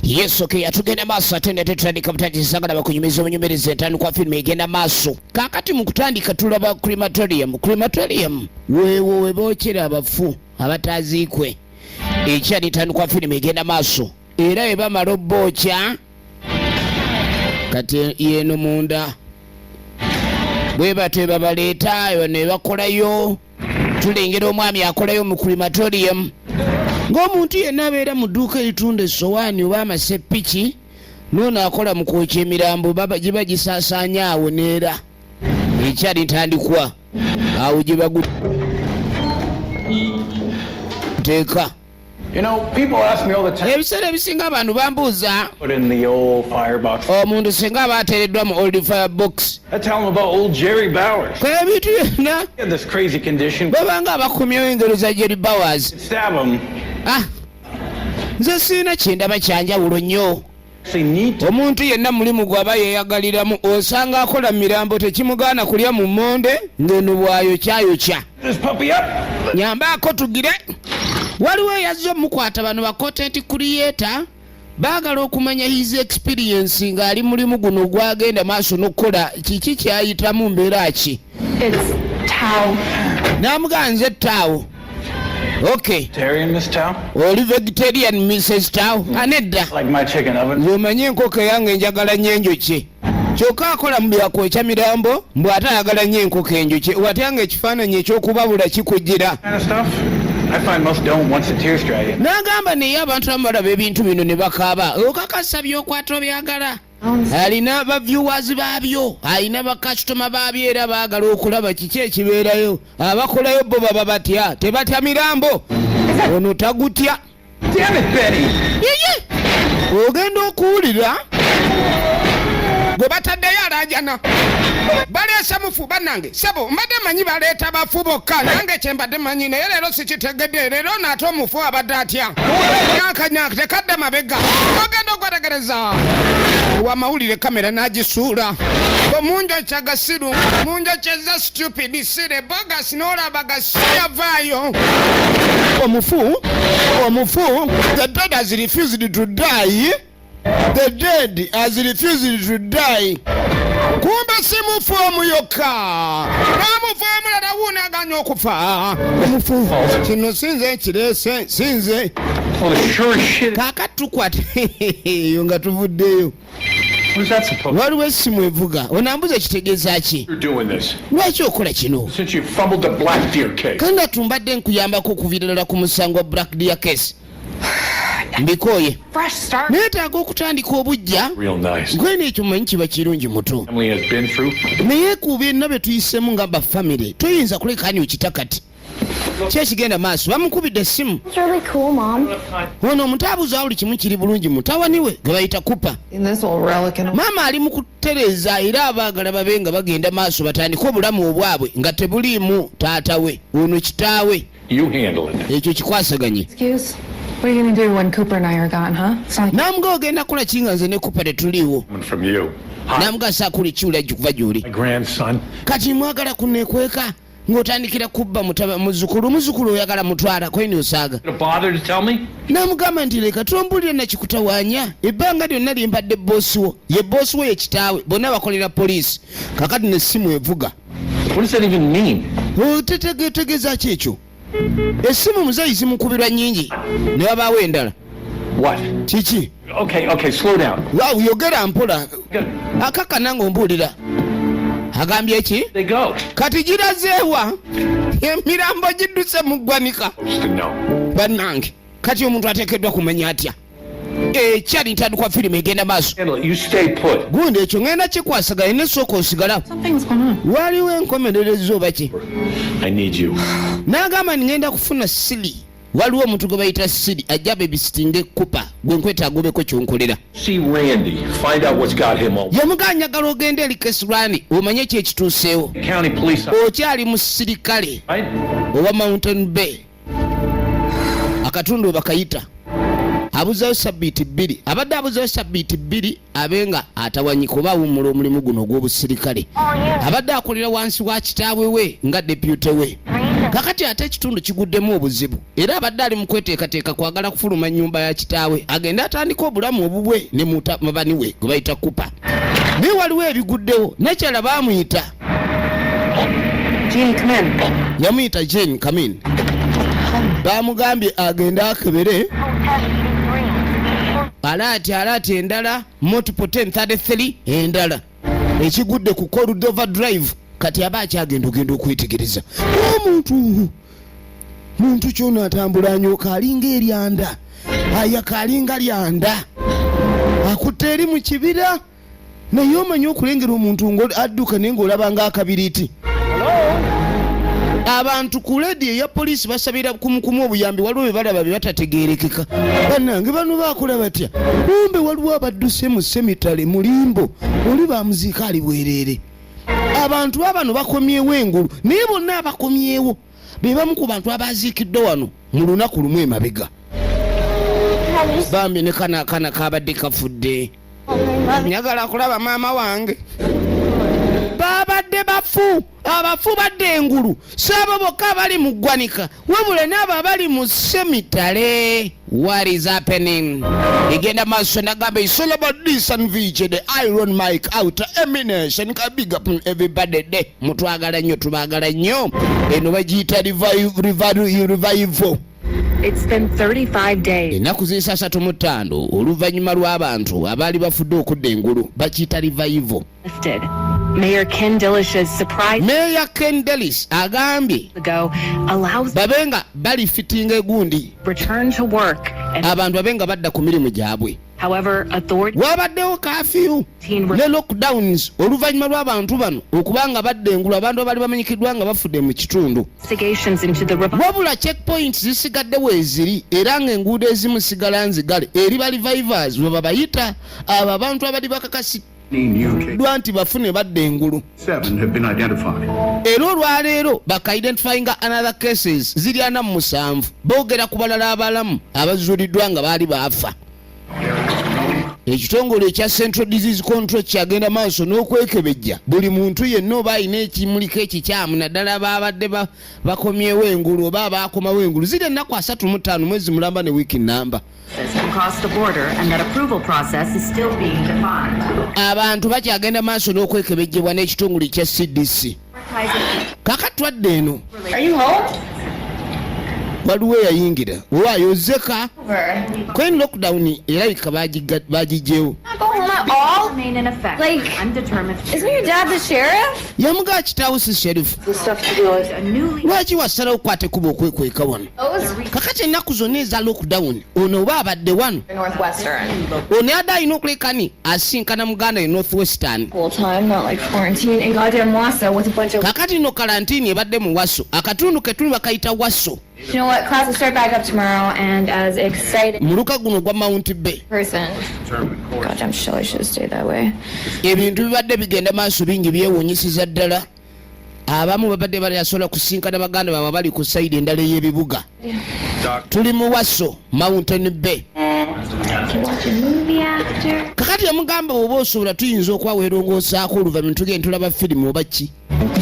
yesu ke yatugenda maaso ate nga tetutandika butandisanga na bakunyumiza obunyumiriza entandikwa firimu egenda maaso kakati mu kutandika tulaba crematorium crematorium weewo we bookera abafu abataaziikwe ekyali entandikwa firimu egenda maaso era we bamala obbookya kati yeeno munda bwe batyo babaleeta ne bakolayo tulengera omwami akolayo mu crematorium ng'omuntu yenna abeera mu dduuka eritunda essowaani oba amaseppiki noono akola mu kwokya emirambo giba gisaasaanya awo neera ekyali ntandikwa awo gye baguteeka ebiseera ebisinga abantu bambuuza omuntu singa aba ateereddwa mu old fire box ebintu byonna babanga abakumyewo engero za jerry bowers ah, nze sirina kyendaba kyanjawulo nnyo omuntu yenna mulimu gwaba yeyagaliramu osanga akola mirambo tekimugaana kulya mu monde ngeno bwayokyayokya nyambaako tugire waliwo eyazze omukwata bano bakontenti kuliyeta baagala okumanya his experience ng'ali mulimu guno gwagenda maaso n'okukola kiki kyayitamu mbeera ki namugaa nze taawo Okay. Tarian, Miss Tao? Oli vegetarian, Mrs. Tao? Mm. Anedda. Ah, like my chicken oven. Zomanyi enkoko yange njagala nnyo enjuki. Kyokka akola mu bya kwokya mirambo mbu ate ayagala nnyo enkoko enjuki. Watya nga ekifaananyi eky'okubabula kikujjira. N'agamba naye abantu abamu balaba ebintu bino ne bakaaba. Okakasa by'okwata obyagala. alina ba viewers baabyo alina bakasitoma baabyo era baagala okulaba kiki ekibeerayo abakolayo bo baba batya tebatya mirambo ono tagutya ogenda okuwulira gwe bataddeyo alajana baleese mufu banange sebo mbadde manyi baleeta bafu bokka nange kyembadde manyi naye leero kitegedde leero naate omufu abadde atya nyakanyak tekadde mabega ogenda okwetegereza wamawulire kamera n'agisuula omunjo kyagasiru munjo kyeza stupid sire bogas n'olaba gasiyavaayo omufu omufu the dead has refused to die the dead as refused to die kumbe si mufu omu yokka n'omufu omulala wuunaganya okufa omufu kino sinze ekireese sinze kaaka tukwat eyo nga tuvuddeyo waliwo essimu evuga onambuza ekitegeeza ki lwaki okola kino kanga tumbadde nkuyambako okuviira ddala ku musango wa black dear case mbikooye neetaaga okutandika obujja gwena ekyo manyi kiba kirungi muto naye kuba enna bye tuyisemu nga bafamire toyinza kulekani okita kati kyekigenda maaso bamukubidde essimu ono omutaabuzi awuli kimu kiri bulungi mutawani we gwe bayita kupa maama ali mu kutereeza era abaagala babe nga bagenda maaso batandike obulamu obwabwe nga tebuliimu taata we ono kitaawe You handle it. Ekyo kikwasaganye. Excuse? What are you going to do when Cooper and I are gone, huh? Sorry. Namga ogenda kola kinga nze ne Cooper tetuliwo. From you. Namga sa kuli chula jukuva juli. My grandson. Kati mwagala kunekweka ngotandikira kubba mutaba muzukulu muzukulu oyagala mutwala kwene osaaga namugamba nti leka tombulira nakikutawanya ebbanga lyonna lyembadde bosi wo ye bosi wo ye kitaawe bonna bakolera poliisi kakati nesimu evuga otegetegeza ki ekyo esimu muzeyi zimukubirwa nyingi ne babaawo endala kiki waw yogera mpola akakana nga ombuulira agambye ki kati girazeewa emirambo gidduse mu ggwanika bannange kati omuntu ateekeddwa kumanya atya ekyali ntandikwa firimu egenda maaso gundi ekyo ngenda kikwasaganya nesooka osigala waliwo enkomerereza oba ki nagamba ni ngenda kufuna sili waliwo omuntu gwe bayita siri ajja bebisitinga ekupa gwe nkweta agobeko kyonkolera yamugaa njagala ogenda eri kesirani omanye ekyekituuseewo okyali musirikale owa mountain bay akatundu webakayita abuzayo sabbiiti bbiri abadde abuzayo sabbiiti bbiri abe nga atawanyika oba awummula omulimu guno ogw'obusirikale abadde akolera wansi wa kitaawe we nga depute we kakati ate ekitundu kiguddemu obuzibu era abadde ali mu kweteekateeka kwagala kufuluma nnyumba ya kitaawe agende atandika obulamu obubwe ne mutabani we gwe bayita kupa naye waliwo ebiguddewo nekyala baamuyita yamuyita jane kamin bamugambye agende akebere alaati alaati endala multiple 1033 endala ekigudde ku corudova drive kati aba akyagenda ogenda okwetegereza omuntu muntu kyona atambula anyoka alinga eryanda ayaka alinga lyanda akutte eri mu kibira naye omanyi okulengera omuntu nga adduka naye ngaolaba nga akabiriiti abantu ku ledi eya poliisi basabira kumukumu obuyambi waliwo bebalaba byebatategerekeka banange bano bakola batya kumbe waliwo abadduse mu semitale mulimbo oli bamuziika ali bwerere abantu babano bakomyewo engulu naye bonna abakomyewo be bamu ku bantu abaaziikiddwa wano mu lunaku lumu emabega bambi ne kana akana kabadde kafudde njagala kulaba maama wange babadde bafu abafu badde engulu saabo bokka abali mu ggwanika wabula naabo abali mu semitale What is happening? Igenda maso nagamba it's all about this and VJ the Iron Mike out emination ka big up everybody de mutwagala nyo tubagala nyo eno bagiyita revive revive revive It's been 35 days. Ennaku z'esasatu mu ttaano oluvannyuma lw'abantu abaali bafudde okudda engulu bakiyita revival Mayor Ken Dillish's surprise Mayor Ken Dillish agambye ago allows babe nga bali fitting egundi return to work abantu babe nga badda ku mirimu gyabwe However, authority wabaddewo kafiyu ne lockdowns oluvannyuma lw'abantu bano okuba nga badda engulu abantu abaali bamanyikiddwa nga bafudde mu kitundu wabula checkpoints zisigadde weeziri era ng'enguudo ezimu sigala nzigale eri balivivers bwe babayita abo abantu abali bakakasi dwa nti bafune badda engulu era olwaleero bakaidentifyinga another cases ziri ana mu musanvu boogera ku balala abalamu abazuuliddwa nga baali baafa ekitongole ekya central disease control kyagenda maaso n'okwekebejja buli muntu yenna oba alina ekimuliko ekikyamu naddala babadde bakomyewo engulu oba abaakomawo engulu ziri ennaku asatu mu ttaano mwezi mulamba ne wiiki namba abantu bakyagenda maaso n'okwekebejjebwa n'ekitongole kya cdc kaka twadde eno waliwo eyayingira waayo zeka kwen lockdown erabika bagijjewo yamugaa kitaawo si sherifu lwaki wasalawo okukwata ekuba okwekweka wano kakati ennaku zonna eza lockdown ono oba abadde wano ono yadde alina okulekani asinkana muganda e northwestern kakati no kalantini ebadde mu waso akatundu ketuli bakayita waso muluka guno ogwa mount bay ebintu bibadde bigenda maaso bingi byewunyisiza ddala abamu babadde balayasobola kusinkana baganda baabwe bali ku sayidi endala ey'ebibuga tuli muwaso mountain bay kakati omugamba oba osobola tuyinza okwawelongoosaako oluvanyuma tugende tulaba firimu oba ki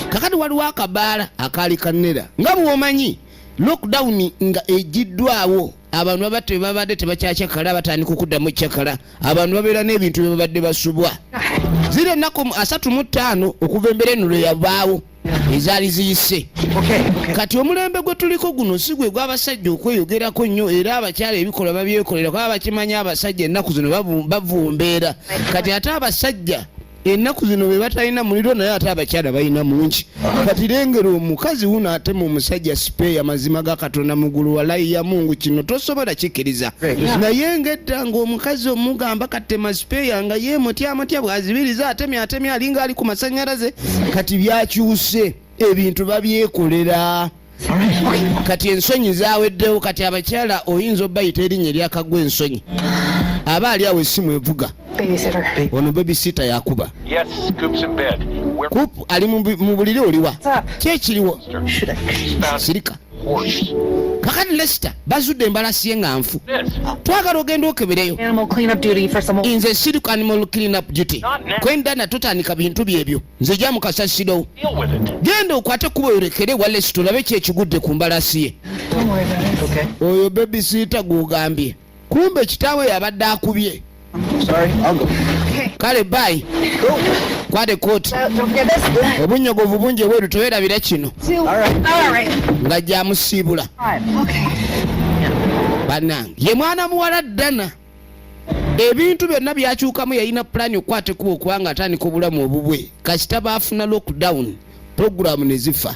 kakati waliwo akabaala akaali kanera nga bwomanyi lockdown nga egiddwawo abantu babatta bebabadde tebakyakyakala batandika okuddamu kyakala abantu babeera n'ebintu byebabadde basubwa ziri ennaku asatu mu ttaano okuva embera eno lwe yabaawo ezaali ziyise kati omulembe gwe tuliko guno si gwe gw'abasajja okweyogerako nnyo era abakyala ebikolwa babyekolera kuba bakimanya abasajja ennaku zino bavumbeera kati ate abasajja ennaku zino be batalina muliro naye ate abakyala balina mungi kati lengera omukazi wuno ate mu musajja sipeeya mazima ga katonda mugulu walayi ya mungu kino tosobola kikiriza naye ngedda ngaomukazi omugamba katema sipeeya nga ye mutya mutya bwazibiriza atemya atemya alinga ali ku masanyalaze kati byakyuse ebintu babyekolera kati ensonyi zaweddewo kati abakyala oyinza obayita erinnya eryakagwa ensonyi aba ali awo esimu evuga ono babysita yakuba kupu ali mu buliri oliwa kyekiriwo sirika kakati lesita bazudde embalasi ye nga nfu twagala ogenda okebereyo nze siriku animal clean up duty kwendana tutandika bintu byebyo nze ja mukasasiro genda okwate kuba oyorekere walesi tulabe ki ekigudde ku mbalasi ye oyo bebisiita gwogambye kumbe kitaawe yabadde akubye kale bayi kwade kooti obunyogovu bungi ebweru tewerabira kino nga gyamusiibula banange ye mwana muwala ddana ebintu byonna byakyukamu yalina pulaani okukwata ekuba okuba nga atandika obulamu obubwe kasita baafuna lockdown pulogulaamu ne zifa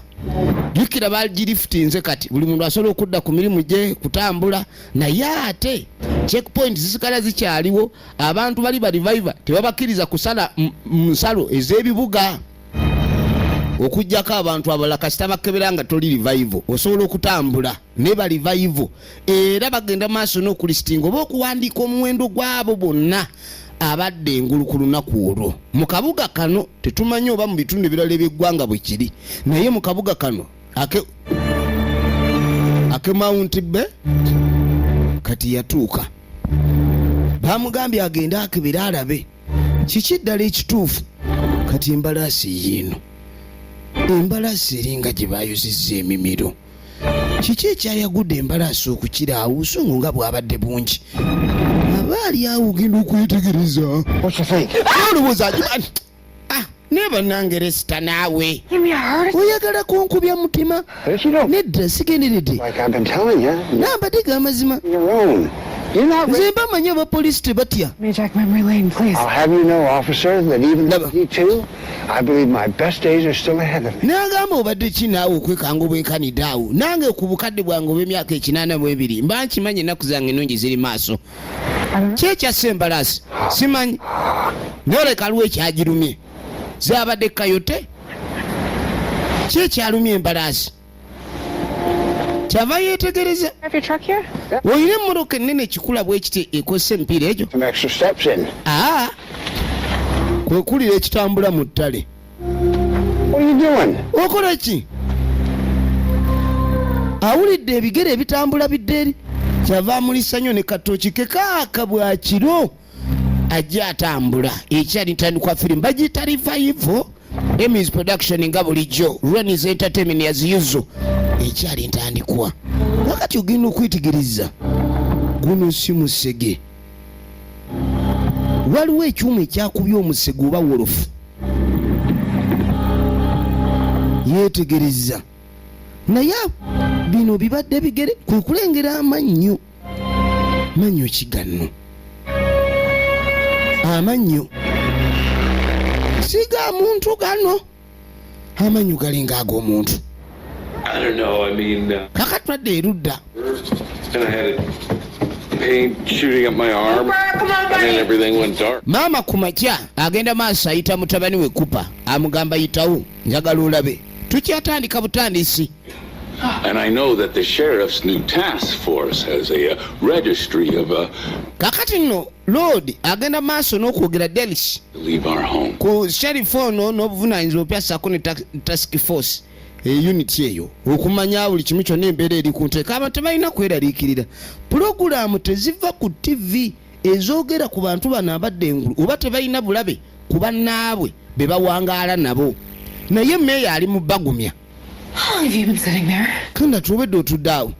jukira bagirifutinze kati buli muntu asobola okudda ku mirimu gye kutambula naye ate checkpoint zisigala zikyaliwo abantu bali bariviva tebabakkiriza kusala nsalo ez'ebibuga okujjako abantu abalala kasita bakkebera nga toli rivivo osobola okutambula ne bali vaivu era bagenda maaso n'okulistinga oba okuwandiika omuwendo gw'abo bonna abadde engulu ku lunaku olwo mu kabuga kano tetumanyi oba mu bitundu ebirala eby'eggwanga bwe kiri naye mu kabuga kano ake ake mawunti be kati yatuuka bamugambye agende akebere alabe kiki ddala ekituufu kati embalaasi yiino embalaasi eringa gye bayozizza emimiro kiki ekyayagudde embalaasi okukira awo obusungu nga bwabadde bungi aba ali awo ogenda okwetegereza olowooza agimani naye banange resita naawe oyagala kunkubya mutima nedda sigenderedde nambadde ga mazima nze mbamanyi abapoliisi tebatya n'agamba obadde ki naawe okwekanga obwenkanidde awo nange ku bukadde bwange obw'emyaka ekinaana mu ebiri mba nkimanyi ennaku zange ennungi ziri maaso kyekyassa embalaasi simanyi noleka lwo ekyagirumye zabadde kayote kyekyalumya embalaasi kyava yeetegereza olina emmoroka ennene ekikula bwe kiti ekozesa emipiira egyo ah! kwe kulira ekitambula mu ttale okola ki awulidde ebigere ebitambula bidde eri kyava amulisa nnyo ne katooki kekaaka bwa kiro ajja atambula ekyali ntandikwa firimu bagiyita rivayivo emis production nga bulijjo renis entertainment yaziyuzo ekyali ntandikwa wakati ogenda okwetegereza guno si musege waliwo ekyuma ekyakubya omusege oba wolofu yeetegereza naye bino bibadde bigere kwe kulengera amannyo manyo ki ganno amannyo si ga muntu gano amannyo galinga ag'omuntu uh, kaka twadde erudda maama ku makya agenda maaso ayita mutabani we kupa amugamba yitawo njagala olabe tukyatandika butandisi And I know that the sheriff's new task force has a uh, registry of a uh, kakati nno lord agenda maaso n'okwogera delis ku sheriff ono n'obuvunaanyizibwa opya saako ne task force eyuniti eh, eyo okumanya buli kimu kyonna embeera eri ku nteeka abantu tebalina kweraliikirira pulogulaamu teziva ku ttivi ezoogera ku bantu bano abadde engulu oba tebalina bulabe ku bannaabwe be bawangaala nabo naye meeya ali mu bagumya tunda tuwedde otudde awo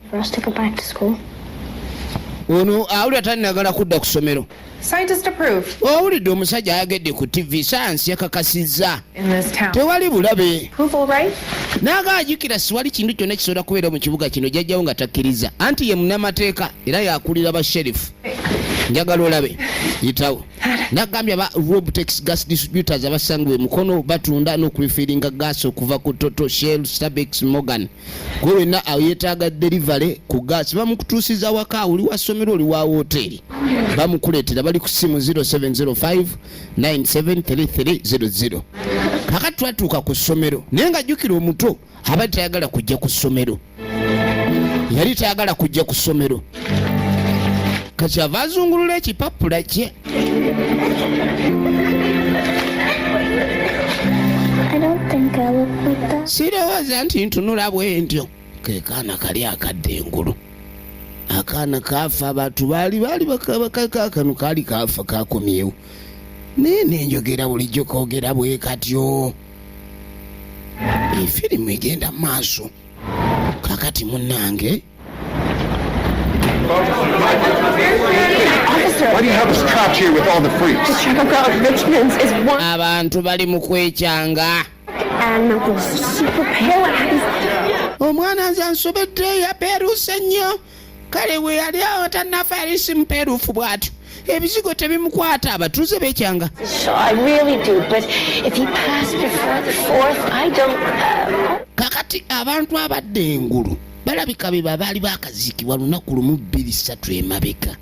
ono awulira talinagala kudda ku ssomero owulidde omusajja ayagedde ku ttivi sayansi yakakasizza tewali bulabe naaga ajukira siwali kintu kyonna kisobola kubeera mu kibuga kino jajjawo nga takkiriza anti ye munamateeka era yakulira ba sherifu njagala olabe yitawo nagambye aba robtex gas distributors abasangibwa emukono batunda n'okulifiringa gas okuva ku toto shell stabex morgan gwe wenna ayetaaga delivery ku gas bamukutuusiza awaka oli wa ssomero oli wa wooteeri bamukuleetera bali ku ssimu 0705 973300 kakati twatuuka ku ssomero naye nga jjukira omuto abadde tayagala kujja ku ssomero yali tayagala kujja ku ssomero kati ava azungulula ekipapula kye sirowooza nti ntunula bwentyo kekaana kali akadde engulu akaana kaafa abantu baali baali bakakakano kaali kaafa kakomyewo naye nenjogera bulijjo kogera bwekatyo efirimu egenda mu maaso kakati munnange abantu bali mu kwekyanga omwana nze ansobedde yapeeruuse nnyo kale bwe yali awo tannafa yali simupeeruufu bw'atyo ebizigo tebimukwata abatuuze bekyanga uh, kakati abantu abadde engulu balabika be babaali bakaziikibwa lunaku lumu bbiri ssatu emabeka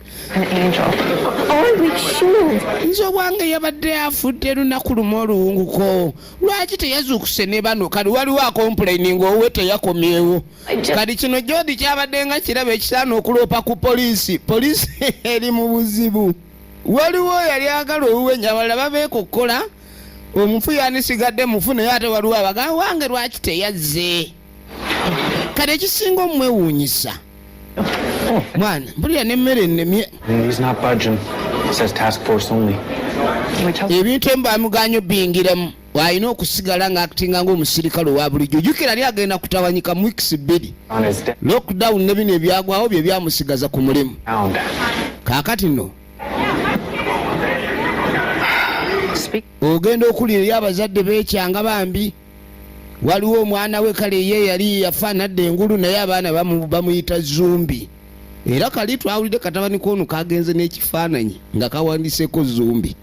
nze obwange yabadde afudde lunaku lumu oluwunguko lwaki teyazuukuse ne bano kali waliwo akompulaini ngaowe teyakomyewo kati kino jodi kyabadde nga kiraba ekisaana okuloopa ku poliisi poliisi eri mu buzibu waliwo yali agala oluwenya abalala babeekokkola omufu yandisigadde mufu naye ate waliwo abagaa wange lwaki teyazze kati ekisinga omwewuunyisa mwana mpulira nemmere ennemye ebintu emu bamuganyo bingiramu bw'alina okusigala ng'akitinga ng'omusirikale owa bulijjo jukira yali agenda kutawanyika mu wiikisi bbiri lockdown ne bino ebyagwawo bye byamusigaza ku mulimu kaakati nno ogenda okulira eri abazadde beekyanga bambi waliwo omwana we kale ye yali yafaanadde engulu naye abaana bamuyita zumbi era kali twawulidde katabani koono kagenze n'ekifaananyi nga kawandiseeko zumbi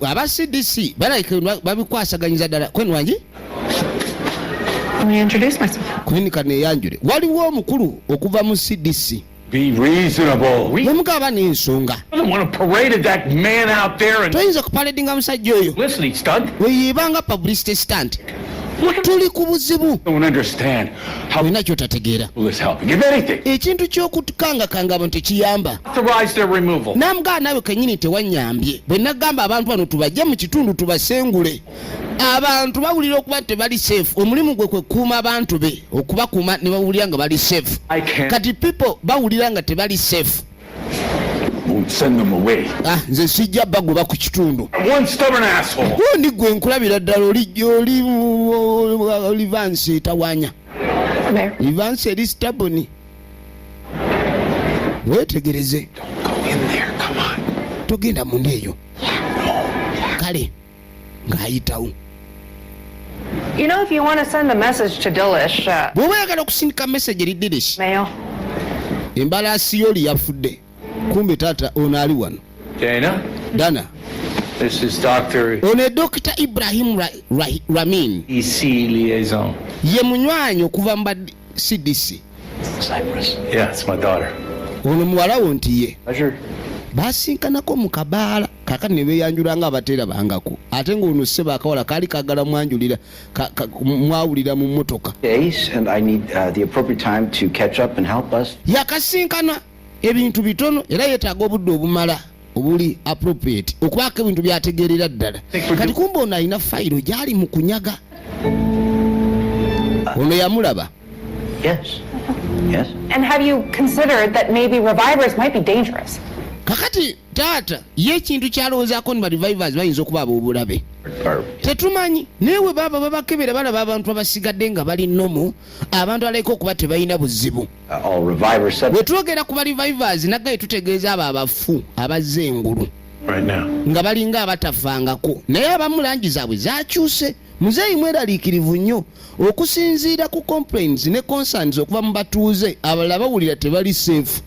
aba cdc balabika babikwasaganyiza ddala kwenwangi kwenika neyanjule waliwo omukulu okuva mu cdc Be reasonable. We don't want to parade that man out there and toyinza kupaledinga musajja oyo publicity stunt. weyeebanga publicity stunt tuli ku buzibu olina kyotategeera ekintu ky'okukangakanga abantu tekiyamba namugaa naawe kenyini tewanyambye bwe nagamba abantu bano tubajje mu kitundu tubasengule abantu bawulira okuba tebali safe omulimu gwe kwekuuma abantu be okubakuuma ne bawulira nga bali safe kati people bawulira nga tebali safe ah, nze sijja bagoba ku kitundu ndi gwe nkulabira ddala olivansi etawanya livansi eri staboni wetegereze togenda munda eyo kale ng'ayitawo You know, if you want to send a message to Dilish, uh, bw'oba oyagala okusindika message eri Dilish mail. embalaasi y'oli yafudde kumbe taata ono ali wano Dana, dana this is Dr. ono edokita ibrahim Ra- Ra- ramin EC E liaison. ye munywanyi okuva mu ba cdc Cyprus. Yeah, it's my daughter. ono muwala wo nti ye Pleasure. basinkanako mu kabaala kakati ne beeyanjula nga abateerabangako ate ng'ono ssebo akawala kaali kagala mwanjulira mwawulira mu mmotoka uh, yakasinkana ebintu bitono era yeetaaga obudde obumala obuli appropriate okubaako ebintu byategeerera ddala kati kumba ono alina fayiro gyali mu kunyaga ono yamulaba Yes. Yes. And have you considered that maybe revivers might be dangerous? kakati taata ye ekintu kyalowoozaako ni barevivers bayinza okuba abobulabe tetumanyi naye we baaba babakebera balaba abantu abasigadde nga bali nomu abantu alaika okuba tebalina buzibu uh, bwe twogera ku barevivers naggaye tutegeeza abo abafu abazze engulu nga balinga abatafangako naye abamu langi zaabwe zakyuse Muzeeyi mweraliikirivu nnyo okusinziira ku complaints ne concerns okuva mu batuuze abalala bawulira tebali seefu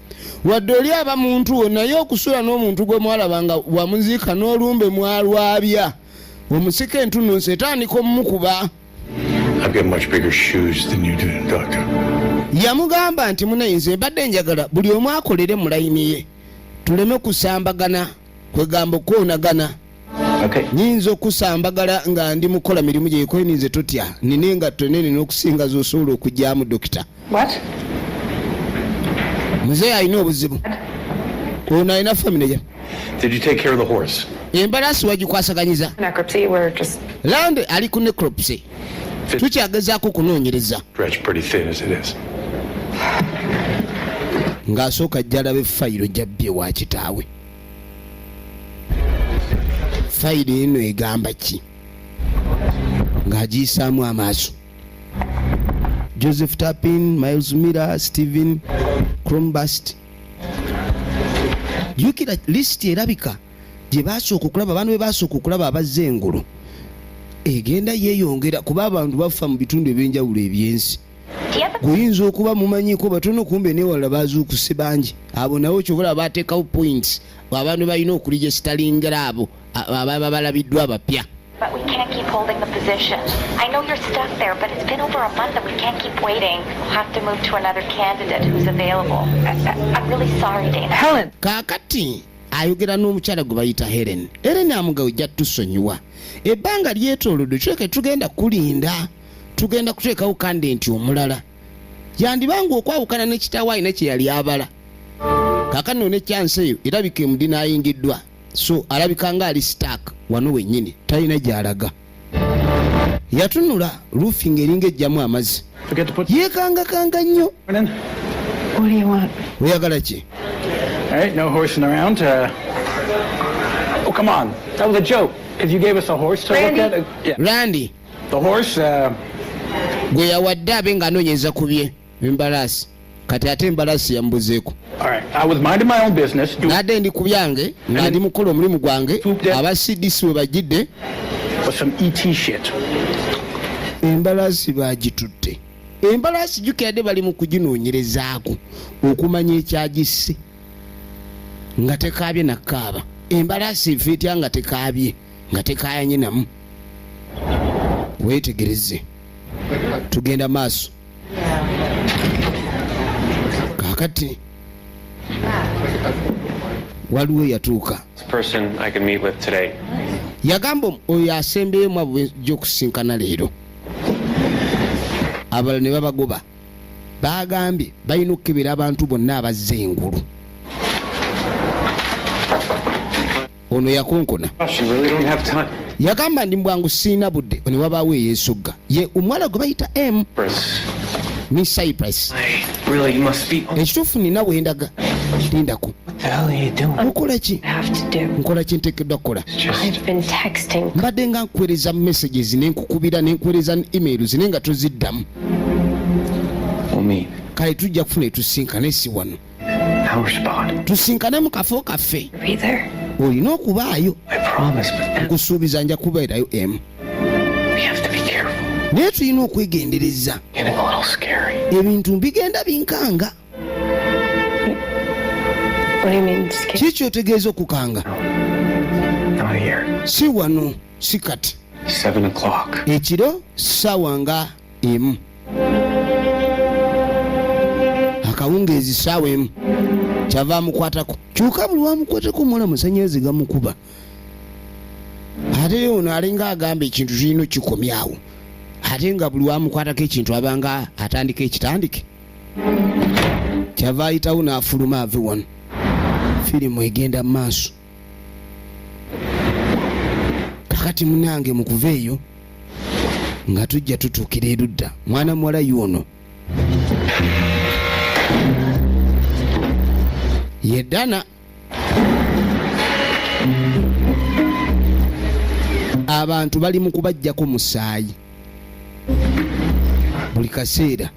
wadde oli aba muntu wo naye okusula n'omuntu gwe mwalaba nga wamuziika n'olumbe mwalwabya omusika entunnunsi etandika omumukuba yamugamba nti munayi nze mbadde njagala buli omu akolere mu layini ye tuleme kusambagana kwegamba okwonagana Okay. nyinza okusambagala nga ndi mukola mirimu gyekoye ninze totya nina engatto enene n'okusinga zosobola okugyamu dokita muzeeyi alina obuzibu ono alina famine ja embalaasi wagikwasaganyiza lande ali ku necropsy tukyagezaako okunoonyereza ng'asooka jjalabe fayiro jabbye wa kitaawe fayiro eno egamba ki ng'agiyisaamu amaaso joseph tapin miles mira stephen crombast jukira lisiti erabika gye basooka okulaba abantu be basooka okulaba abazze engulu egenda yeeyongera kuba abantu bafa mu bitundu eby'enjawulo eby'ensi guyinza okuba mumanyiko batono kumbe newalala bazuukuse bangi abo nawe kyobola batekawo points abantu balina okulijesitalingira abo ababa balabiddwa abapya But we can't keep holding the position. I know you're stuck there, but it's been over a month and we can't keep waiting. We'll have to move to another candidate who's available. I, I, I'm really sorry, Dana. Helen! Kakati! ayogera n'omukyala gwe bayita helen helen amugawe jja tusonyiwa ebbanga lyetolodde kyoleka tugenda kulinda tugenda kuteekawo kandenti omulala yandiba nga okwawukana ne kitaawo alina kye yali abala kakano ne kyansi eyo erabika emudina ayingiddwa so alabika nga ali stak wano wennyini talina gy'alaga yatunula lufi nga eringa ejjamu amazzi yeekangakanga nnyo oyagala ki randi Uh, gwe yawadde abe nga anoonyeza ku bye embalaasi kati ate embalaasi yambuzeeko nadde ndi ku byange nga ndi mukola omulimu gwange aba cdc we bajjidde e embalaasi bagitutte embalaasi jukirade bali mu kuginoonyerezaako okumanya ekyagisse nga tekaabye nakaaba embalaasi efa etya nga tekaabye nga tekayanye namu wetegereze tugenda maaso kakati waliwo yatuuka yagamba oyo asembeyo mu abwejja okusinkana leero abalala ne babagoba bagambye balina okukebera abantu bonna abazze engulu ono yakonkona yagamba ndi mbwangu siina budde ne wabaawo eyeesogga ye omuwala gwe bayita m mi cypress ekituufu nina wendaga lindako nkola ki nkola ki ntekeddwa kukola mbadde nga nkuweereza messages ne nkukubira ne nkuweereza emails naye nga toziddamu kale tujja kufuna etusinkana esi wano tusinkane mu kafo kaffe olina okubaayo nkusuubiza nja kubeerayo emu naye tulina okwegendereza ebintu bigenda binkanga kiki kyotegeeza okukanga si wano si kati ekiro ssaawa nga emu akawungeezi saawa emu kyava amukwatako kyuka buli wamukwatako muwala musanyalaze gamukuba ate ono alinga agamba ekintu kirina kikomyawo ate nga buli wamukwatako ekintu abanga atandika ekitandike kyava ayitawo n'afuluma ave wano firimu egenda mu maaso kakati munange mukuva eyo nga tujja tutuukira erudda mwana muwala yuono yedana abantu bali mu kubajjako musaayi buli kaseera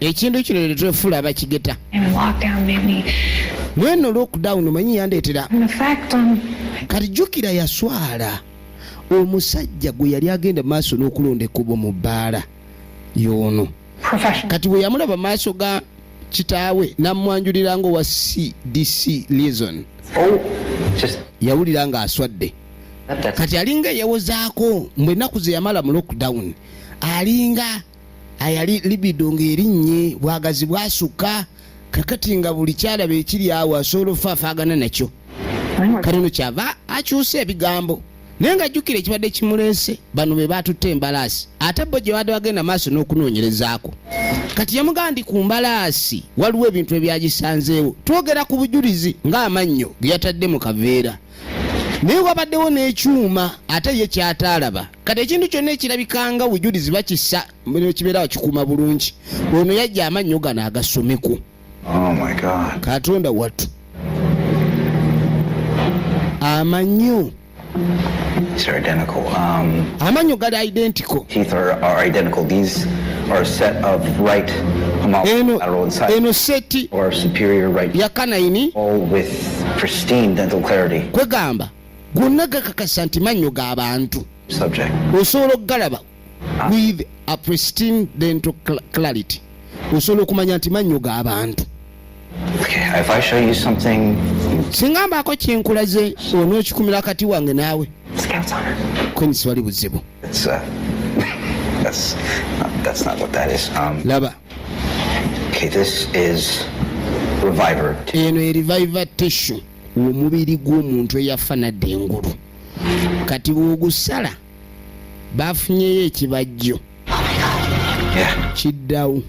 ekintu kino netwefuula abakigeta mweno lockdown manyi yandetera kati jukira yaswala omusajja gwe yali agenda maaso n'okulonda ekkubo mu bbaala yoono kati bwe yamulaba maaso ga kitaawe namwanjulira nga owa cdc liaison oh, yawulira nga aswadde kati alinga eyewozaako mbu ennaku zeyamala mu lockdown alinga ayali libido ng'erinnye bwagazi bwasukka kakati nga buli kyalaba ekiri awo asobola ofaafaagana nakyo kale no kyava akyusa ebigambo naye nga jjukira ekibadde kimuleese bano be baatutte embalaasi ate bo gye baadde bagenda maaso n'okunoonyerezaako kati yamugamba ndi ku mbalaasi waliwo ebintu ebyagisanzeewo twogera ku bujulizi ng'amannyo ge yatadde mu kaveera naye wabaddewo n'ekyuma ate ye kyataalaba kati ekintu kyonna ekirabikanga bujulizi bakisa kibeera wakikuuma bulungi ono yajja amannyo gano agasomeko oh katonda wattu amanyo um, amanyo gali identical eno seti yakanayini kwegamba gonna gakakasa nti mannyo ga bantu osobola okugalaba ah. with a pristine dental clarity osobola okumanya nti mannyo ga bantu singa mbaako kyenkulaze onookikumira kati wange naawe kwenyisiwali buzibu uh, um, laba Okay, this is Reviver. Eno ye Reviver tissue omubiri gw'omuntu eyafa nadda engulu kati bw'ogusala baafunyeyo ekibajjo kiddawo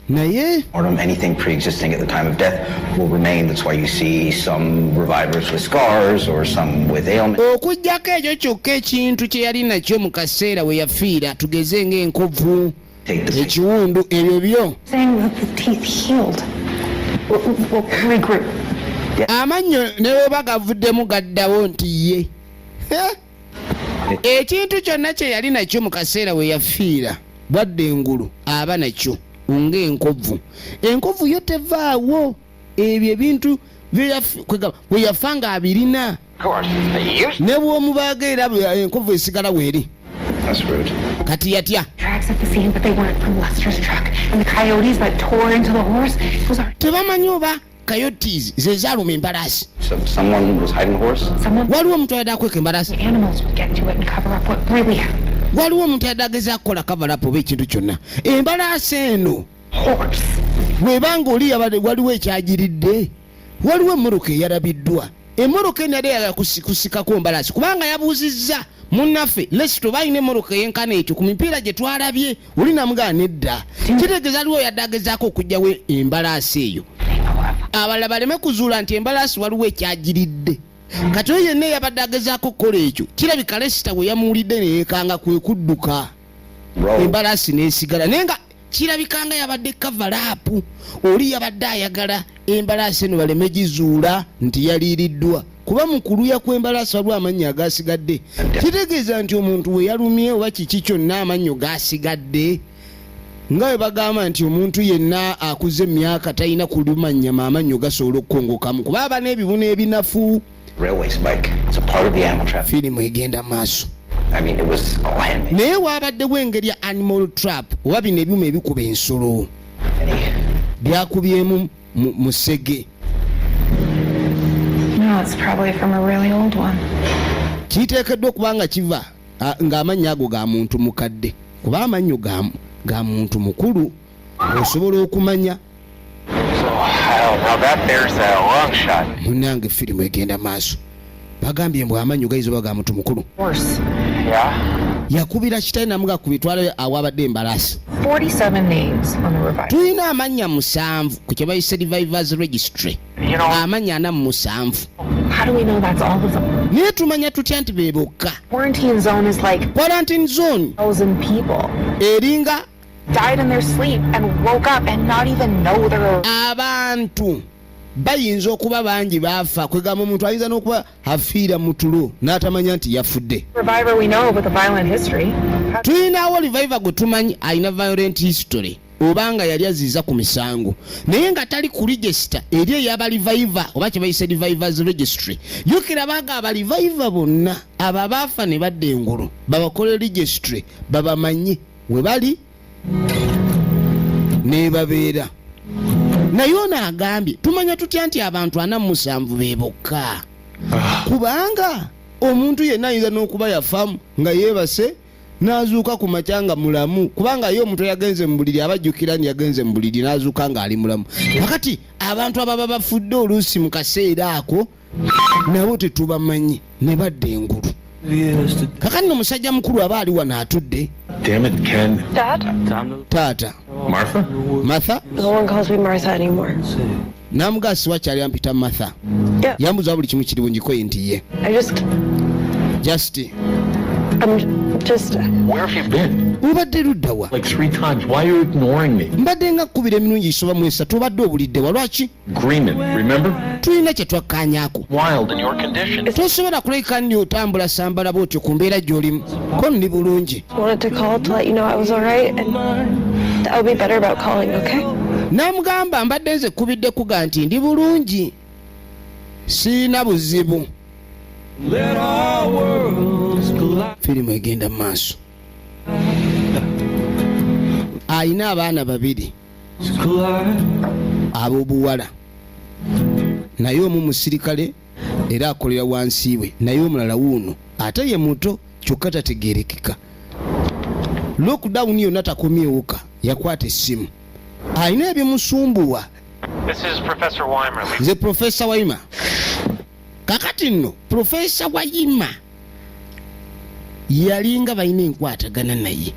naye or on anything pre-existing at the time of death will remain that's why you see some revivers with scars or some with ailments okujjako ekyo kyokka ekintu kye yali nakyo mu kaseera we yafiira tugeze ng'enkovu ekiwundu ebyo byo amannyo ne bweba gavuddemu gaddawo nti ye ekintu kyonna kye yali nakyo mu kaseera we yafiira bwadde engulu aba nakyo ng'enkovu enkovu yo tevaawo ebyo ebintu bwe yafa nga abirina ne bw'omubaaga era enkovu esigala weeri That's rude. Kati yatya. Tracks at the scene, but they weren't from Lester's truck. And the coyotes that tore into the horse, those are... Tebamanyi oba coyotes ze zaaluma embalaasi waliwo omuntu ayadde akweka embalaasi waliwo omuntu ayadde ageza kukola kavalapu oba ekintu kyonna embalaasi eno bwebanga oli waliwo ekyagiridde waliwo emmotoka eyalabiddwa emmotoka enada eyagala kusikako mbalasi kubanga yabuuzizza munnaffe lesito balina emmotoka eyenkana ekyo ku mipiira gye twalabye oli namugaa nedda kitegeeza aliwo yadde agezaako okugyawo embalaasi eyo abalala baleme kuzuula nti embalaasi waliwo ekyagiridde kati oyo yenna eyabadde agezaako okukola ekyo kirabika lesita bwe yamuwulidde neyekanga kwe kudduka embalaasi nesigala naye nga kirabika nga yabadde kavalaapu oli yabadde ayagala embalaasi eno baleme gizuula nti yaliiriddwa kuba mu kuluya kw'embalaasi waliwo amannya agasigadde kitegeeza nti omuntu we yalumye oba kiki kyonna amannyo gasigadde nga bwe bagamba nti omuntu yenna akuze emyaka talina kulumanyama amannyo gasobola okukongokamu kuba aba n'ebibuno ebinafu firimu egenda maaso naye waabaddewo engeri ya animal trap oba bino ebyuma ebikuba ensolo byakubyemu musege kiteekeddwa okuba nga kiva ng'amannya ago ga muntu mukadde kuba amannyo ga muntu mukulu osobola okumanya munange firimu egenda maaso bagambye mbw amanyi gaiza oba ga muntu mukulu yakubira kitae namuga ku bitwalo awabadde embalaasi tulina amannya musanvu ku kyebayise revivers registry amannya ana mu musanvu naye tumanya tutya nti be bokka quarantine zone eringa died in their sleep and woke up and not even know they were abantu bayinza okuba bangi baafa kwegamba omuntu ayinza n'okuba afiira mu tulo n'atamanya nti yafudde tulinawo liviva gwe tumanyi alina violent history oba nga yali aziiza ku misango naye nga tali ku regisita eri eyaba liviva oba kyebayise livivers registry yukira baga abaliviva bonna abo abaafa ne badda engulu babakola registry babamanyi we bali nebabeera naye ono agambye tumanya tutya nti abantu ana mumusanvu be bokka ah. kubanga omuntu yenna ayinza n'okuba yafamu nga yeebase n'azuuka ku makya nga mulamu kubanga ye omuntu yagenze mu buliri abajjukira ni yagenze mu buliri n'azuuka ng'ali mulamu wakati abantu ababa bafudde oluusi mu kaseera ako nabo tetubamanyi ne badda engulu kakati no musajja mukulu aba ali wano atudde taata matha namugaa siwakyali ampita matha yambuza buli kimu kiri bungikoye nti ye just obadde luddawa mbadde nga kkubira emirungi isoba mu esatu obadde obuliddewa lwaki tulina kye twakkaanyako tosobola kuleka nni otambula sambala bwotyo ku mbeera gy'olimu ko ndi bulungi n'amugamba mbadde nze kubidde kuga nti ndi bulungi siina buzibu firimu egenda mu maaso alina abaana babiri ab'obuwala naye omu musirikale era akolera wansi we naye omulala wuuno ate ye muto kyokka tategerekeka lockdown yonna takomyewuka yakwata essimu alina ebimusumbuwa nze profesa waima kakati nno profesa waima yalinga balina enkwatagana naye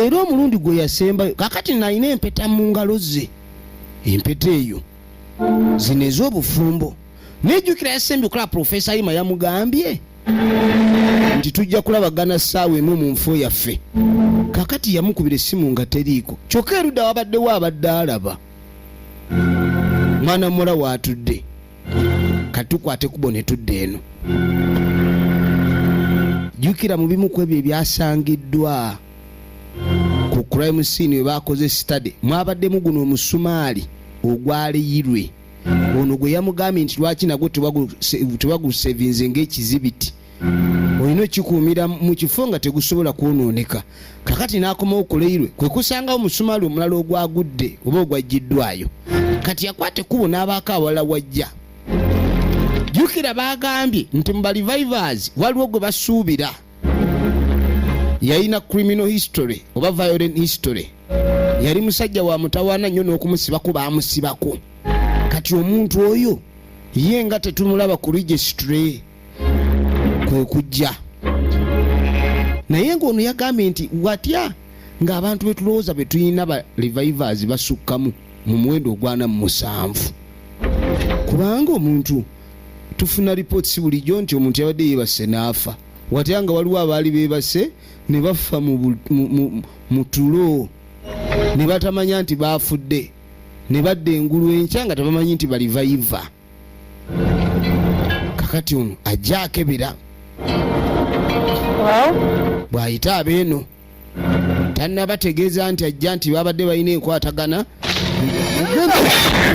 era omulundi gwe yasembayo kakati nalina empeta mu ngalo ze empeta eyo zino ez'obufumbo nejjukira yasembye okulaba profesa yima yamugambye nti tujja kulabagana ssaawa emu mu nfo yaffe kakati yamukubira essimu nga teriiko kyokka erudda wabaddewo abadde alaba mwana muwala waatudde katukwate kubo ne tudda eno jjukira mu bimu ku ebyo ebyasangiddwa ku crime scene we baakoze study mwabaddemu guno omusumaali ogwaleyirwe ono gwe yamugambye nti lwaki nagwo tebagusevinze ngaekizibiti olina okikuumira mu kifo nga tegusobola kwonooneka kakati n'akomawo ku leirwe kwe kusangawo omusumaali omulala ogwagudde oba ogwajjiddwayo kati yakwata ekkubo n'abaako awala wajja jjukira baagambye nti mu balivivers waliwo gwe basuubira yalina criminal history oba violent history yali musajja wa mutawaana nnyo n'okumusibako baamusibako kati omuntu oyo ye nga tetumulaba ku registry kwe kujja naye ng'ono yagambye nti watya ng'abantu be tulowooza be tulina ba revivers basukkamu mu muwendo ogwana mu musanvu kubanga omuntu tufuna lipooti si bulijjo nti omuntu yabadde yeebase n'afa watya nga waliwo abaali beebase ne bafa mu tulo ne batamanya nti baafudde ne badda engulu enkya nga tebamanyi nti balivayiva kakati ono ajja akebera bw'ayita abeeno tannabategeeza nti ajja nti babadde balina enkwatagana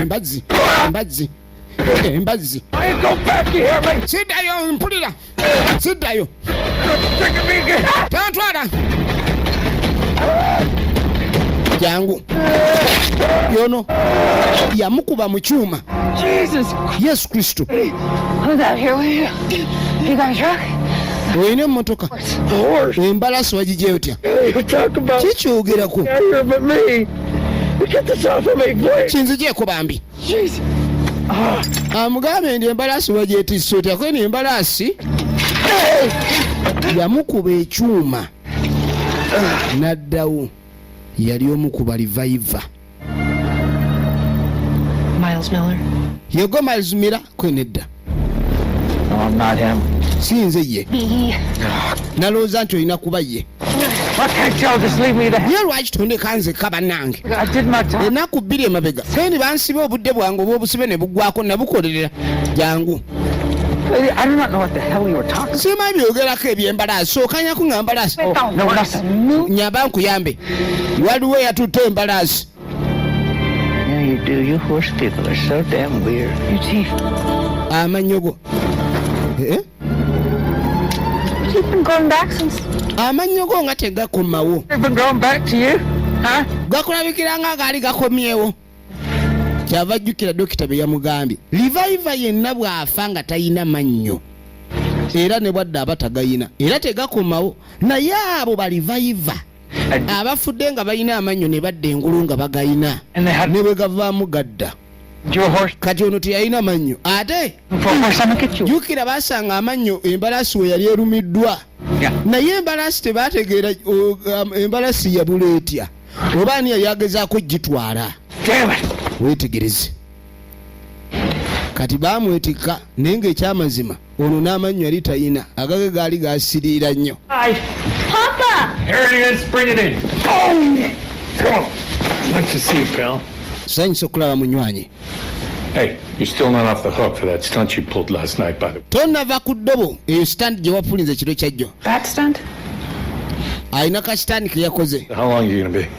embazzi embazzi embazzi sidayo mpulira siddayo tantwala jangu yono yamukuba mu kyuma yesu kristo olina emotoka embalasi wagijja otya kikyogerako kinzigyeko bambi amugambe ah, ndi embalaasi wagyetisse otya kweno embalaasi yamukuba ekyuma n'addawo yali omu ku balivaiva yego miles miller kwe nedda si nze ye nalowooza nti olina kuba ye ye lwaki tondeka nzekka bannange enaku bbiri emabega sendi bansiba obudde bwange obwobusibe ne buggwako nabukolerera jangu simanyi byogerako ebyembalaasi sookanyako nga mbalaasi oh, nyamba nkuyambe waliwo eyatutte embalaasi amannyo go eh? amannyo go nga tegakomawo gakulabikira nga gaali gakomyewo kyava ajjukira dokita bye yamugambye livayiva yenna bw'afa nga talina mannyo era ne bwadde aba tagayina era tegakomawo naye abo balivayiva abafudde nga balina amannyo ne badda engulu nga bagalina ne bwe gavaamu gadda kati ono teyalina mannyo ate jukira basanga amannyo embalaasi we yali erumiddwa naye embalaasi tebategeera um, embalaasi yabula etya oba ani yali agezaako gitwala wetegereze kati bamwetikka naye nga ekyamazima ono n'amannyo yali tayina agage gaali gasiriira nnyo sanyisa okulaba munywanyi tonava ku ddobo eyo sitandi gye wapulinza ekiro kyajjo alina ka sitandi ke yakoze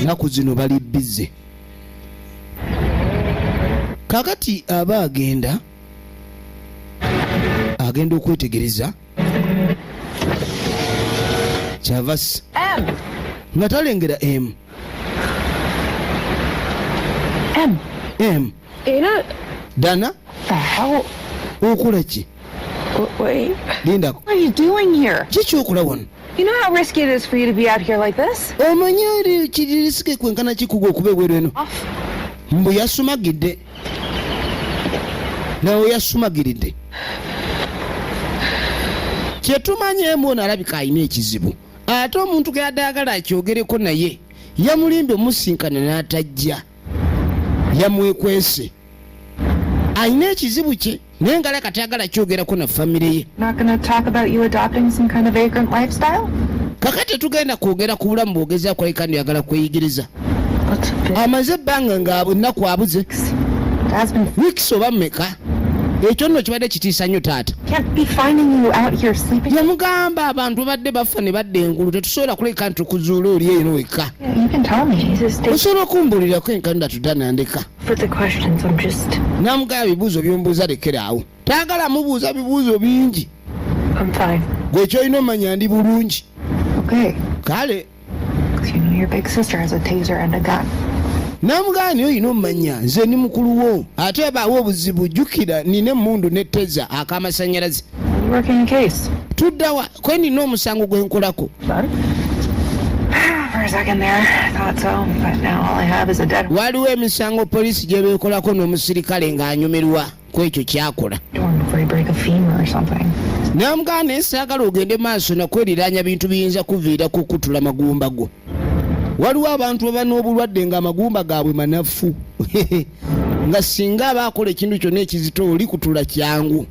ennaku zino bali bize kakati aba agenda agenda okwetegereza kyavasi nga talengera emu m era dana awo okola ki lindako kikyokola wano You know how risky it is for you to be out here like this? Omanyi eri kiririsike kwenkana kikugu okuba ebweru eno. Mbu yasumagidde. Nawe yasumagiridde. Kye tumanyi emu ono alabika alina ekizibu. Ate omuntu geyadde agala akyogereko naye yamulimbye omusinkana n'atajja. yamwekwese alina ekizibu kye naye ngala kati agala kyogerako na famire ye kaka tetugenda kwogera ku bulamu bwogeza kwalika ndyagala kweyigiriza amaze ebbanga nga ennaku abuze wiks oba meka ekyo nno kibadde kitiisa nnyo taata yamugamba abantu babadde bafa ne badda engulu tetusobola kuleka nti tukuzuula oli eyo nowekka osobola okumbuulirako enkanula tuda nandeka namugaba bibuuzo byombuuza lekeraawo taagala mubuuza bibuuzo bingi gwe kyolina omanya ndi bulungi kale namugaani oyina omumanya nze ni mukulu wo ate baawo obuzibu jjukira nina emundu neteza akamasanyalaze tuddawa kwe nina omusango gwe nkolako waliwo emisango poliisi gye beekolako n'omusirikale ng'anyumirwa ku ekyo kyakola namugaa naye saagala ogende maaso nakweriraanya bintu biyinza kuviira ku kutula magumba go waliwo abantu baba n'obulwadde ng'amagumba gaabwe manafu nga singa aba akola ekintu kyonna ekizito oli kutula kyangu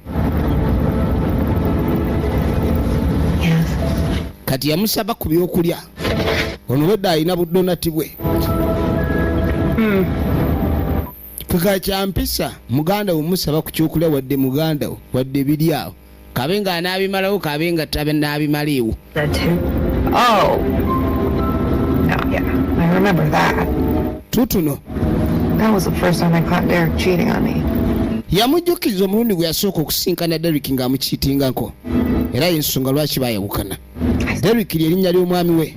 kati yamusaba ku byokulya ono wedde alina budonati bwe kika hmm. kyampisa muganda wo musaba ku kyokulya wadde muganda wo wadde biri awo kabe nga anaabimalawo kabe nga tabe naabimaliiwo oh. tutuno yamujjukiza omulundi gwe yasooka okusinkana derrick ng'amukiitingako era yensonga lwaki bayawukana Derrick lye linnya ly'omwami we.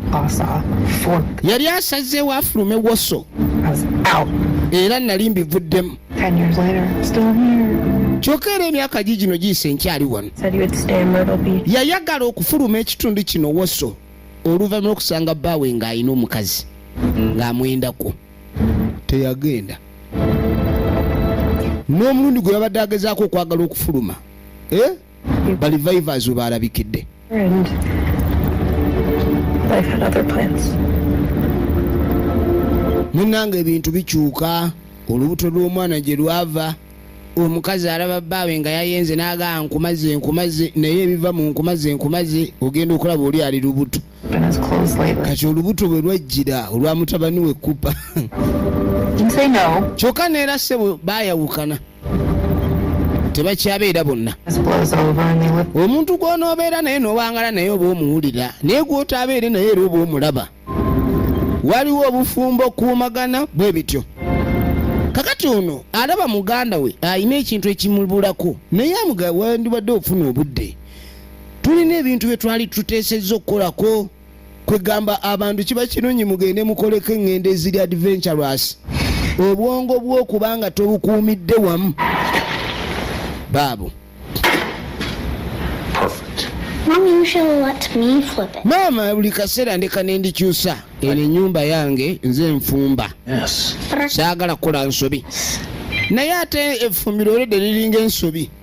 Yali asazeewo afulume Woso era nali mbivuddemu. Kyokka era emyaka gi gino giyise nkyali wano. Yayagala okufuluma ekitundu kino Woso oluvannyuma lw'okusanga bbaawe ng'alina omukazi ng'amwendako. Teyagenda. N'omulundi gwe yabadde agezaako okwagala okufuluma. Eh? balivaivazi we baalabikidde munanga ebintu bikyuka olubuto lw'omwana gye lwava omukazi alaba bbaawe nga yayenze n'agaa nkumaze nkumaze naye ebiva mu nkumaze nkumaze ogenda okulaba oli ali lubuto kati olubuto bwe lwajjira olwa mutabani we kupa kyokka neera ssebo baayawukana tebakyabeera bonna omuntu gw'onoobeera naye n'owangala naye oba omuwulira naye gw'otaabeere naye era oba omulaba waliwo obufumbo okuumagana bwe bityo kakati ono alaba muganda we alina ekintu ekimubulako naye amuga wandibadde ofuna obudde tulina ebintu bye twali tuteesezza okukolako kwegamba abantu kiba kirungi mugende mukoleko eŋŋendo eziri adventurous obwongo bwokuba nga tobukuumidde wamu baabo maama buli kaseera ndeka nendikyusa eno enyumba yange nze nfumba saagala kukola nsobi naye ate effumbiro olwedde liringa ensobi yes.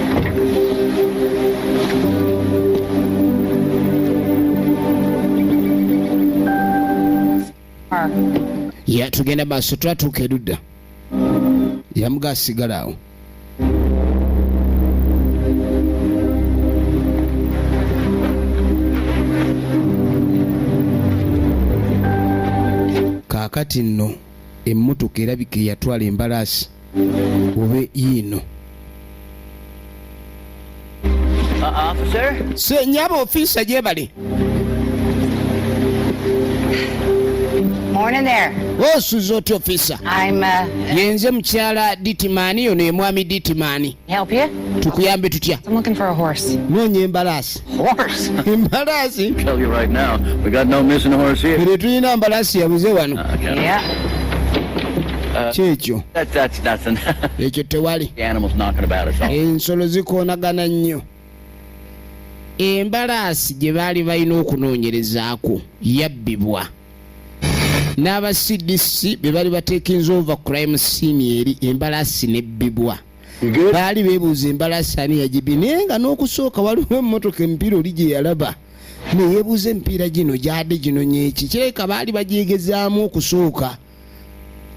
ya tugenda maaso twatuuka erudda yamuga asigala awo kaakati nno emmotoka erabika eyatwala embalaasi obe yiino senyaba ofiisa gyebale osuza otya ofiisa yenze mukyala ditimani yono emwami ditimani Help you? Tukuyambe tutya? I'm looking for a horse. Noonya embalaasi. Horse? Embalaasi? Tell you right now, we got no missing horse here. Kiri tulina mbalaasi yabuze wano. Uh, yeah. Uh, kyekyo ekyo tewali ensolo zikoonagana nnyo embalaasi gye baali balina okunoonyerezaako yabbibwa n'aba cdc be bali batekinza ova crime scene eri embalaasi nebbibwa baali bebuuza embalaasi ani yagibi naye nga n'okusooka waliwo emmotoka emipiira oli gye yalaba neyebuuza emipiira gino gyade gino nyeki kireka baali bagyegezaamu okusooka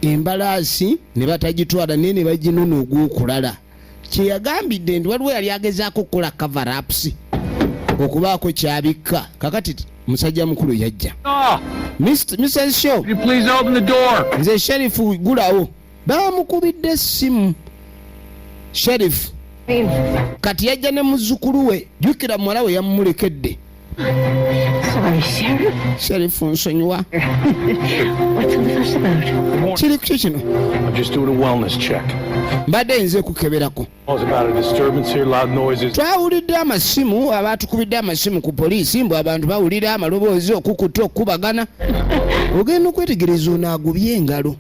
embalaasi ne batagitwala naye ne baginona ogw'okulala kye yagambidde nti waliwo yali agezaako okukola coverapusi okubaako kyabikka kakati musajja mukulu yajja ah! mrs show nze sherifu gulawo bamukubidde essimu sherifu kati yajja ne muzzukulu we jjukira muwala we yamumulekedde Sorry, Sheriff. Sheriff nsonyiwa. What's all the fuss about? Kiri kuki kino? I'm just doing a wellness check. Mbadde nze kukeberako. Twawulidde amasimu abaatukubidde amasimu ku poliisi mbu abantu bawulira amaloboozi okukuta okukubagana. Ogenda okwetegereza onaagubye engalo.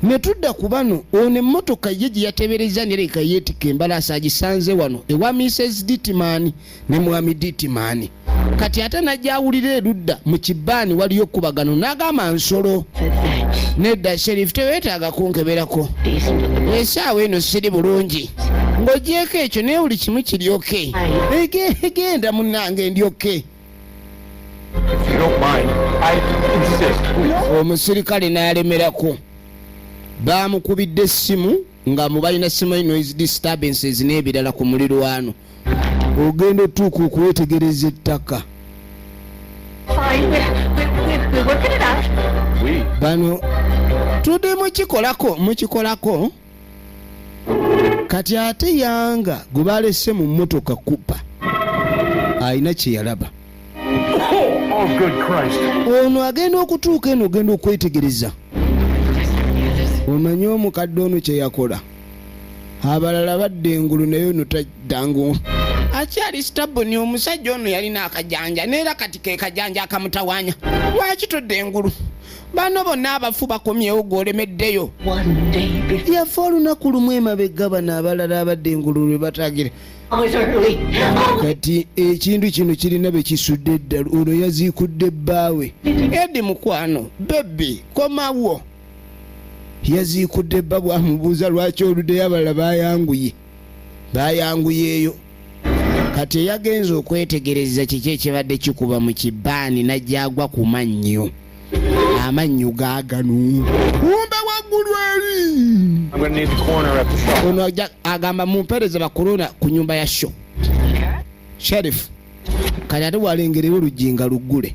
ne tudda ku bano ono emmotoka ye gye yateberezza nereka yeetikka embalaasi agisanze wano ewa mises ditman ne mwami ditman kati ate najja awulira erudda mu kibaani waliyo okukubagano n'agamba nsolo nedda sherifu teweetaaga kunkeberako esaawa eno siri bulungi ng'ogyeko ekyo naye buli kimu kiryoke egenda munange ndyoke omusirikale n'alemerako baamukubidde essimu nga mubalina ssimu e noise disturbances n'ebirala ku mulirwano ogenda otuuka okwetegereza ettaka bano tudde mukikolako mukikolako kati ate yanga gwe balese mu motoka kupa alina kyeyalaba ono agenda okutuuka eno ogenda okwetegereza omanye omukadde ono kyeyakola abalala badde engulu naye ono taddangu akyali sitabuni omusajja ono yalina akajanja neera kati kekajanja akamutawanya lwaki todda engulu bano bonna abafu bakomyewo gwe olemeddeyo yafa olunaku lumu emabega bano abalala abadde engulu lwe batagira kati ekintu kino kirina be kisudde eddala ono yaziikudde bbaawe edi mukwano bebi komawo yaziikudde bba bwamubuuza lwaki oluddeyo abalala bayanguye bayanguyeeyo kati eyagenze okwetegereza kiki ekibadde kikuba mu kibaani najjagwa ku mannyo amannyo gaganu kumbe waggulu eri ono agamba mumpereze bakulona ku nyumba ya sho sherifu kati ate walengerewo oluggi nga luggule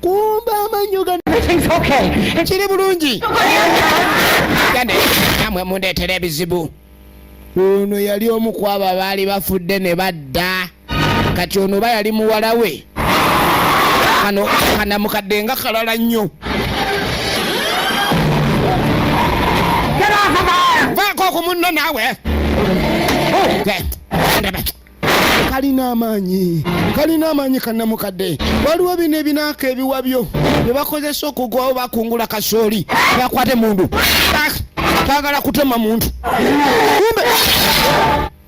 kumba amanyo gano kiri bulungi namwe mundeetera ebizibu ono yali omu ku abo abaali bafudde ne badda kati ono oba yali muwala we kano kanamukadde nga kalala nnyo vaako ku munno naawe kalina amaanyi kalina amaanyi kanamukadde waliwo bino ebinaaka ebiwabyo bye bakozesa okugwawo bakungula kasooli bakwate mundu bagala kutema muntu kumbe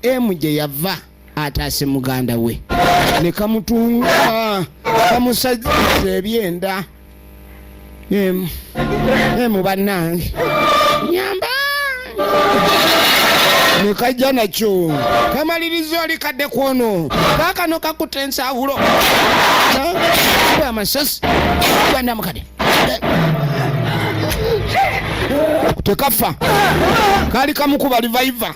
emu gye yava ataase muganda we ne kamutunga kamusajja ebyenda emu emu bannange nyamba nekajja nakyo kamaliriza oli kadde kwono kakano kakutta ensawulo amasasi gandamukade tekafa kaali kamukuba livaiva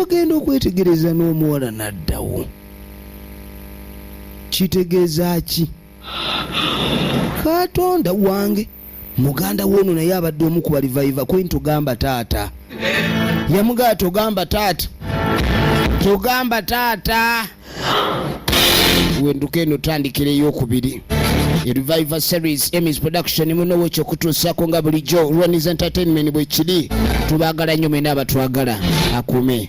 ogenda okwetegereza n'omuwala n'addawo kitegeeza ki katonda wange muganda woono naye abadde omu ku balivaiva kweni togamba taata yamugaa togamba taata togamba taata wenduka eno tandikira eyokubiri reviver series emis production muno wekyo kutuusako nga bulijjo rwanis entertainment bwekiri tubagala nnyo mwena abatwagala akume